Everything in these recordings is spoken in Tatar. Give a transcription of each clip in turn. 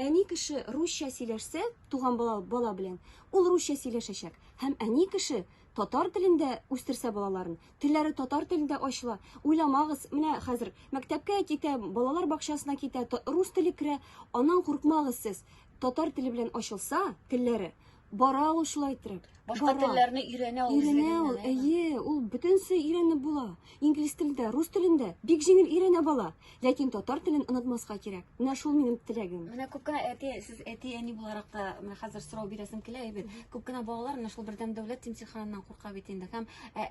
Әни кеше русча сөйләшсә, туган бала, бала белән, ул русча сөйләшәчәк. Һәм әни кеше татар телендә үстерсә балаларын, телләре татар телендә ачыла. Уйламагыз, менә хәзер мәктәпкә китә, балалар бакчасына китә, рус теле керә, аннан куркмагыз сез. Татар теле белән ачылса, телләре, Бара ул шулай иттереп. Башка телләрне өйрәнә ул. Өйрәнә ул. Әйе, ул бөтенесе өйрәнеп була. Инглиз телендә, рус телендә бик җиңел өйрәнә бала. Ләкин татар телен онытмаска кирәк. Менә шул минем теләгем. Менә күп кенә әти, сез әти, әни буларак та менә хәзер сорау бирәсем килә, әйбәт. Күп кенә балалар менә шул бердәм дәүләт имтиханыннан курка бит инде. Һәм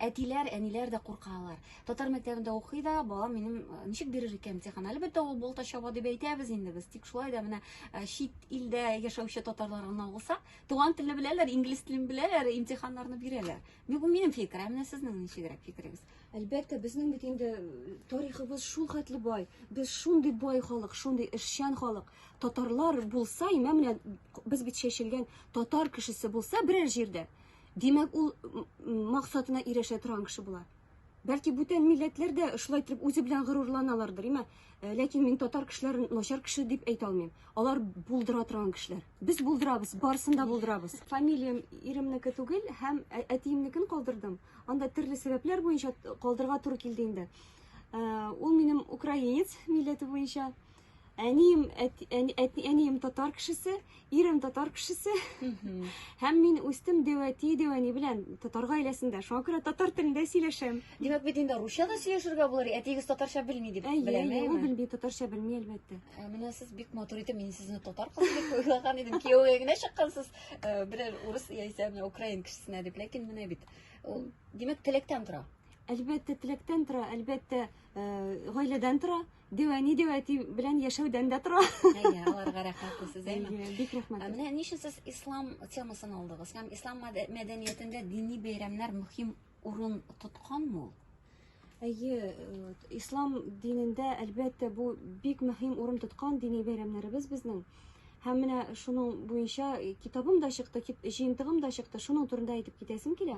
әтиләр, әниләр дә куркалар. Татар мәктәбендә укый да, балам минем э, ничек бирер икән имтихан? Әлбәттә, ул болта чаба дип әйтәбез инде без. Тик шулай да менә э, чит илдә яшәүче татарлар гына булса, туган телне беләләр, инглиз телен беләләр, имтиханнарны бирәләр. Бу минем фикер, ә менә сезнең ничегрәк фикерегез? Әлбәттә, безнең бит инде э, тарихыбыз шул хәтле бай. Без шундый бай халык, шундый эшчән халык. Татарлар булса, имә менә без бит чәчелгән татар кешесе булса берәр җирдә, димәк, ул максатына ирешә торган кеше була. Бәлки бүтән милләтләр дә шулай итеп үзе белән горурланалардыр, имә. Э, ләкин мин татар кешеләрен начар кеше дип әйтә алмыйм. Алар булдыра торган кешеләр. Без булдырабыз, барысын да булдырабыз. Фамилиям иремнеке түгел һәм ә- әтиемнекен калдырдым. Анда төрле сәбәпләр буенча калдырга туры килде инде. Э, Ул минем украинец милләте буенча. Әнием, әти, әни, әти, әнием татар кешесе, ирем татар кешесе. Һәм мин үстем дәвәти дәвәни белән татар гаиләсендә. Шуңа күрә татар телендә сөйләшәм. Димәк, бит инде русча да сөйләшергә булыр. Әтиегез татарча белми дип Әйе, беләм. әйе, ул белми, татарча белми әлбәттә. Ә, Менә сез бик матур итеп, мин сезне татар кызы дип уйлаган идем. Кияүгә генә чыккансыз, э, берәр урыс яисә менә украин кешесенә дип. Ләкин менә бит. Ул, димәк, теләктән тора. Әлбәттә, теләктән тора, әлбәттә, э, гаиләдән тора. Дәү әни дәү әти белән яшәүдән дә тора. Әйе, аларга рәхмәтле сез, әйме? Әйе, бик рәхмәт. Менә ни өчен сез ислам темасын алдыгыз? Һәм ислам мәдәниятендә дини бәйрәмнәр мөһим урын тотканмы ул? Әйе, э, ислам динендә әлбәттә бу бик мөһим урын тоткан дини бәйрәмнәребез безнең. Һәм менә шуның буенча китабым да чыкты, җыентыгым да чыкты, шуның турында әйтеп китәсем килә.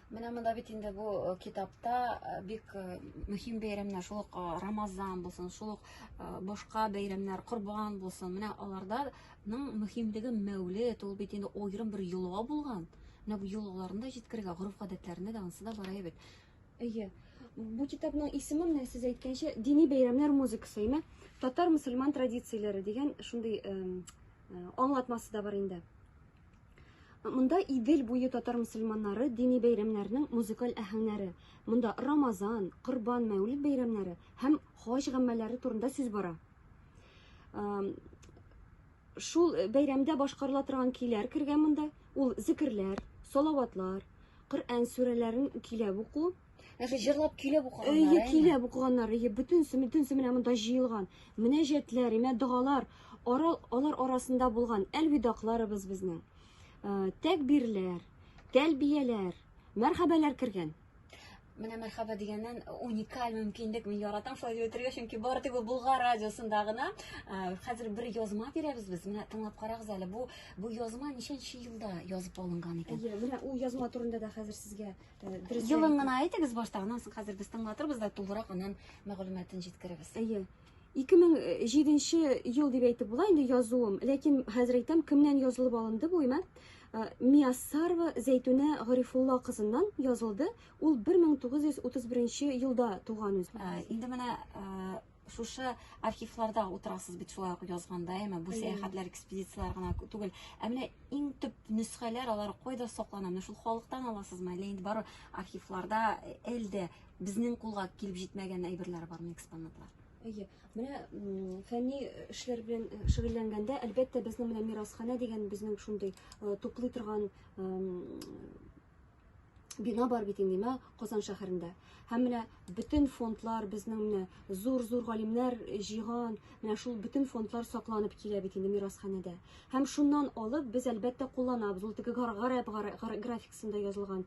Менә монда бит инде бу э, китапта э, бик э, мөһим бәйрәмнәр, шул ук Рамазан булсын, шул ук башка бәйрәмнәр, Корбан булсын. Менә аларданың мөһимлеге Мәүлид, ул бит инде аерым бер йола булган. Менә бу йолаларны да җиткерергә, гореф-гадәтләрне дә анысы да бара бит. Әйе. Бу китапның исеме менә сез әйткәнчә дини бәйрәмнәр музыкасы, әйме? Татар-мусульман традицияләре дигән шундый аңлатмасы да бар инде. Монда Идел буе татар мусульманнары дини бәйрәмнәренең музыкаль әһәңнәре. Монда Рамазан, Корбан, Мәүлид бәйрәмнәре һәм хаҗ гамәлләре турында сүз бара. Шул бәйрәмдә башкарыла торган көйләр кергән монда. Ул зикерләр, салаватлар, Коръән сүрәләрен көйләп уку, Нәрсә җырлап көйләп укыганнар. Әйе, көйләп укыганнар. Әйе, бөтенесе, бөтенесе менә монда җыелган. Мөнәҗәтләр, имә догалар, ара, алар арасында булган әлвидакларыбыз безнең. Э, тәкбирләр, тәлбияләр, мәрхәбәләр кергән. Менә мәрхәбә дигәннән уникаль мөмкинлек мин яратам шулай дип әйтергә, чөнки бары тик Болгар радиосында гына э, хәзер бер язма бирәбез без. Менә тыңлап карагыз әле. Бу бу язма ничәнче елда язып алынган икән? Әйе, менә ул язма турында да хәзер сезгә Елын гына әйтегез башта, аннан соң хәзер без тыңлатырбыз да тулырак аннан мәгълүматын җиткерәбез. Әйе. 2007 ел дип әйтеп була инде язуым, ләкин хәзер әйтәм, кемнән язылып алынды бу имә? Э, Мияссарова Зәйтүнә Гарифулла кызыннан язылды. Ул 1931 елда туган үзе. Э, инде менә э, шушы архивларда утырасыз бит шулай ук язганда әмма бу сәяхәтләр экспедицияләр генә түгел ә менә иң төп нөсхәләр алар кайда саклана менә шул халыктан аласызмы әллә инде бары архивларда әле дә безнең кулга килеп җитмәгән әйберләр бармы экспонатлар әйе менә фәнни эшләр белән шөгыльләнгәндә әлбәттә безнең менә мирасханә дигән безнең шундый туплый торган бина бар бит инде мә Казан шәһәрендә. Һәм менә бөтен фондлар безнең менә зур-зур галимнәр җыйган, менә шул бөтен фондлар сакланып килә бит инде мирасханәдә. Һәм шуннан алып без әлбәттә кулланабыз. Ул теге гарәп графикасында язылган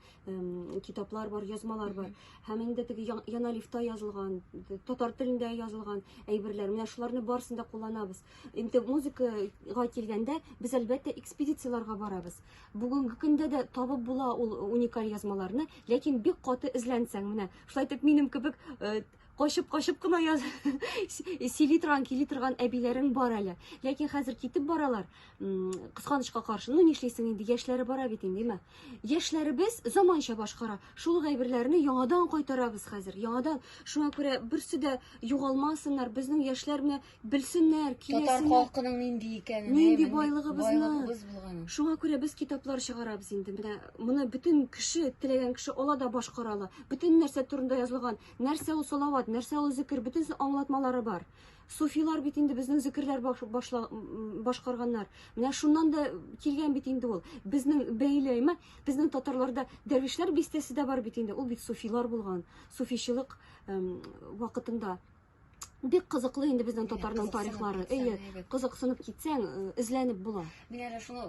китаплар бар, язмалар бар. Һәм инде теге яналифта язылган, татар телендә язылган әйберләр. Менә шуларны барысын да кулланабыз. Инде музыкага килгәндә без әлбәттә экспедицияләргә барабыз. Бүгенге көндә дә табып була ул уникаль язмаларны, ләкин бик каты эзләнсәң, менә шулай итеп минем кебек качып-качып кына яз сөйли торган, кили торган әбиләрең бар әле. Ләкин хәзер китеп баралар, кысканычка каршы. Ну, нишлисең инде, яшьләре бара бит инде, димә. Яшьләребез заманча башкара. Шул гайберләрне яңадан кайтарабыз хәзер. Яңадан. Шуңа күрә берсе дә югалмасыннар. Безнең яшьләр менә Белсеннәр, киләсеннәр. Татар халкының нинди икәнен. Нинди байлыгыбызны. Шуңа күрә без китаплар чыгарабыз инде. Менә моны бөтен кеше, теләгән кеше ала да башкара ала. Бөтен нәрсә турында язылган. Нәрсә ул салават, нәрсә ул зикер, бөтен аңлатмалары бар. Суфилар бит инде безнең зикерләр башла, башкарганнар. Менә шуннан да килгән бит инде ул. Безнең бәйләйме? Безнең татарларда дәрвишләр бистәсе дә бар бит инде. Ул бит суфилар булган. Суфичылык вакытында Бик кызыклы инде безнең татарның тарихлары. Әйе, кызыксынып китсәң, эзләнеп була. Мин әле шуны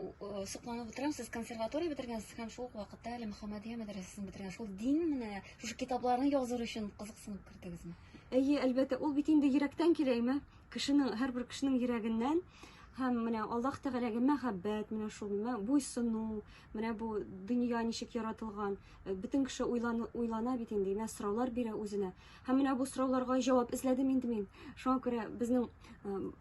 сокланып утырам, сез консерватория бетергәнсез һәм шул ук вакытта әле Мөхәммәдия мәдрәсәсен бетергән. Шул дин менә шушы китапларны языр өчен кызыксынып кердегезме? Әйе, әлбәттә, ул бит инде йөрәктән килә, әйме? Кешенең, һәрбер кешенең йөрәгеннән һәм менә Аллаһ Тәгаләгә мәхәббәт, менә шул менә буйсыну, менә бу дөнья ничек яратылган, э, бөтен кеше уйлана, уйлана бит инде, менә сораулар бирә үзенә. Һәм менә бу сорауларга җавап эзләдем инде мин. Шуңа күрә безнең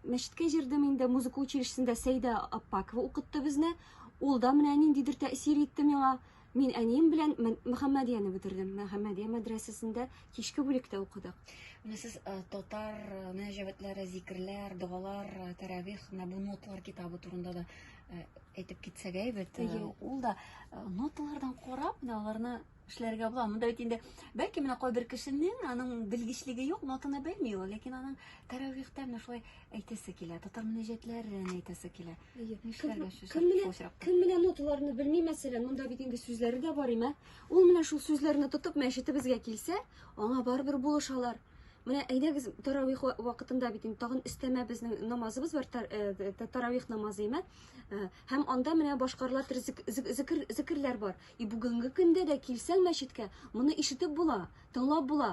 мәчеткә җирдем инде, музыка училищесында Сәйдә Аппакова укытты безне. Ул да менә ниндидер тәэсир итте миңа. Мин әнием белән Мөхәммәдияне бетердем. Мөхәммәдия мәдрәсәсендә кичке бүлектә укыдык. Менә сез татар мөнәҗәвәтләре, зикерләр, догалар, тәрәвих, менә бу ноталар китабы турында да әйтеп китсәгә әйбәт. Ул да ноталардан карап, менә аларны эшләргә була. Монда бит инде бәлки менә кайбер кешенең аның белгечлеге юк, нотаны белми ул, ләкин аның тәравихтә менә шулай әйтәсе килә, татар мөнәҗәтләрен әйтәсе килә. Нишләргә Кем менә кем менә ноталарны белми, мәсәлән, монда бит инде сүзләре дә бар име? Ул менә шул сүзләрне тотып мәчетебезгә килсә, аңа барыбер булышалар. Менә әйдәгез таравих вакытында бит инде тагын өстәмә безнең намазыбыз бар, э, таравих намазы име? Э, һәм анда менә башкарылар зикерләр бар. И бүгенге көндә дә килсәң мәчеткә, моны ишетеп була, тыңлап була.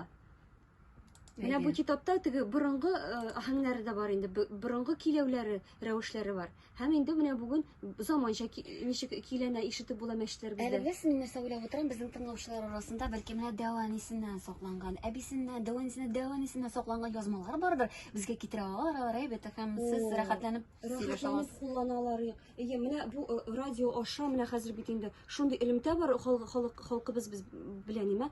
Менә бу китапта теге борынгы э, аһәңнәре дә бар инде, борынгы киләүләре, рәвешләре бар. Һәм инде менә бүген заманча ничек киләнә ишетеп була мәчетләр бездә. Әле без мин нәрсә уйлап утырам, безнең тыңлаучылар арасында бәлки менә дәванисеннән сакланган, әбисеннән, дәванисеннән, дәванисеннан сакланган язмалар бардыр. Безгә китерә алалар, алар әйбәт һәм сез рәхәтләнеп сөйләшә аласыз. Куллана алар. Әйе, менә бу э, радио аша менә хәзер бит инде шундый элемтә бар халык халкыбыз без белән нимә.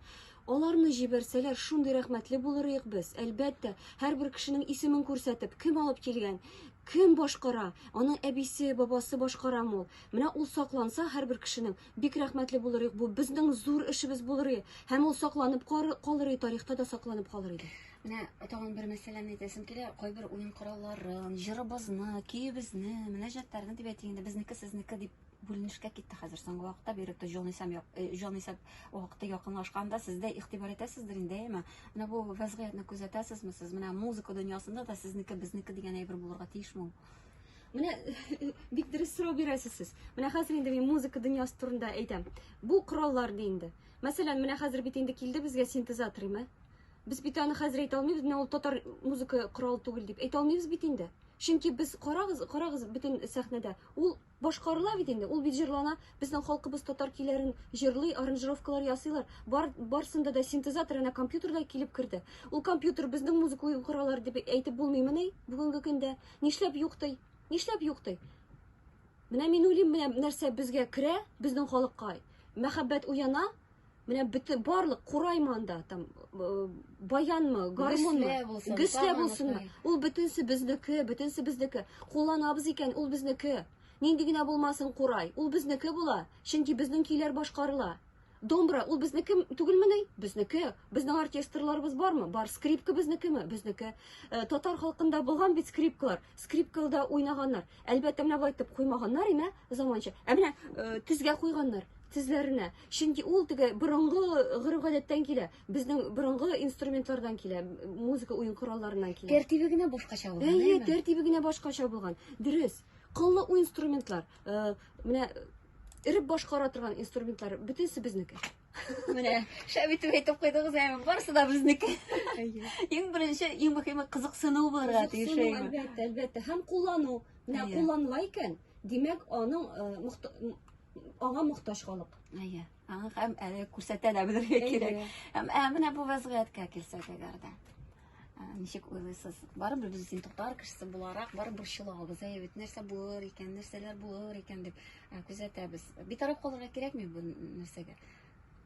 Аларны җибәрсәләр, шундый рәхмәтле булыр идек без. Әлбәттә, һәрбер кешенең исемен күрсәтеп, кем алып килгән, кем башкара, аның әбисе, бабасы башкара мул. Менә ул сакланса һәрбер кешенең, бик рәхмәтле булыр идек. Бу безнең зур эшебез булыр иде. Һәм ул сакланып калыр иде, тарихта да сакланып калыр иде. Менә тагын бер мәсьәләне әйтәсем килә. Кайбер уен коралларын, җырыбызны, көебезне, мөнәҗәтләрне дип әйтик инде, безнеке сезнеке дип бүленешкә китте хәзер соңгы вакытта биректә җан исәм э, җан исәп вакыты якынлашканда сез дә игътибар итәсездер инде әйме менә бу вәзгыятьне күзәтәсезме сез менә музыка дөньясында да сезнеке безнеке дигән әйбер булырга тиешме Менә бик дөрес сорау бирәсез сез. Менә хәзер инде мин музыка дөньясы турында әйтәм. Бу кораллар ди инде. Мәсәлән, менә хәзер бит инде килде безгә синтезатор, име? Без бит аны хәзер әйтә алмыйбыз, менә ул татар музыка коралы түгел дип әйтә алмыйбыз бит инде. Чөнки без карагыз, карагыз бөтен сәхнәдә. Ул башкарыла бит инде, ул бит җырлана. Безнең халкыбыз татар көйләрен җырлый, аранжировкалар ясыйлар. Бар, барсында да синтезатор әнә компьютерда килеп керде. Ул компьютер безнең музыка кораллар дип әйтеп булмыймы ни бүгенге көндә? Нишләп юк ди? Нишләп юк ди? Менә мин уйлыйм, менә нәрсә безгә керә, безнең халыкка мәхәббәт уяна, Менә бөтен барлык кураймы анда, там э, баянмы, гармунмы, гөслә булсынмы. Ул бөтенсе безнеке, бөтенсе безнеке. Кулланабыз икән, ул безнеке. Нинди генә булмасын курай, ул безнеке була, чөнки безнең көйләр башкарыла. Домбра, ул безнеке түгелмени? Безнеке. Безнең оркестрларыбыз бармы? Бар. Скрипка безнекеме? Безнеке. Э, татар халкында булган бит скрипкалар. Скрипкалда уйнаганнар. Әлбәттә, менә булай итеп куймаганнар, имә, заманча. Ә менә э, тезгә куйганнар, тезләренә. Чөнки ул теге борынгы гореф-гадәттән килә. Безнең борынгы инструментлардан килә, музыка уен коралларыннан килә. Тәртибе генә башкача булган. Әйе, тәртибе генә башкача булган. Дөрес. Кыллы уен инструментлар, э, менә эреп башкара торган инструментлар бөтенесе безнеке. Менә шәп итеп әйтеп куйдыгыз, әйе, барысы да безнеке. Әйе. Иң беренче, иң мөһиме кызыксыну булырга тиеш. Әлбәттә, әлбәттә. Һәм куллану. Менә кулланыла икән, димәк, аның э, Аңа мохтаҗ халык. Әйе. Аңа һәм әле күрсәтә дә белергә кирәк. Һәм ә менә бу вазгыятькә килсәк әгәр дә. Ничек уйлыйсыз? Барыбер без син токтар кешесе буларак барыбер чылабыз. Әйе бит, нәрсә булыр икән, нәрсәләр булыр икән дип күзәтәбез. Битараф калырга кирәкми бу нәрсәгә?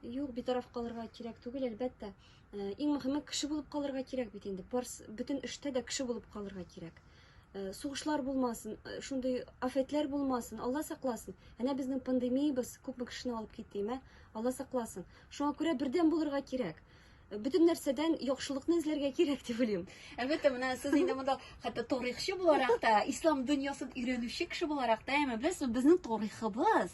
Юк, битараф калырга кирәк түгел, әлбәттә. Э, иң мөхиме кеше булып калырга кирәк бит инде барс бөтен эштә дә кеше булып калырга кирәк э, сугышлар булмасын э, шундый афәтләр булмасын алла сакласын әнә безнең пандемиябез күпме кешене алып китте имә алла сакласын шуңа күрә бердәм булырга кирәк бөтен нәрсәдән яхшылыкны эзләргә кирәк дип уйлыйм әлбәттә менә сез инде монда хәтта тарихчы буларак та ислам дөньясын өйрәнүче кеше буларак та әмма беләсезме безнең тарихыбыз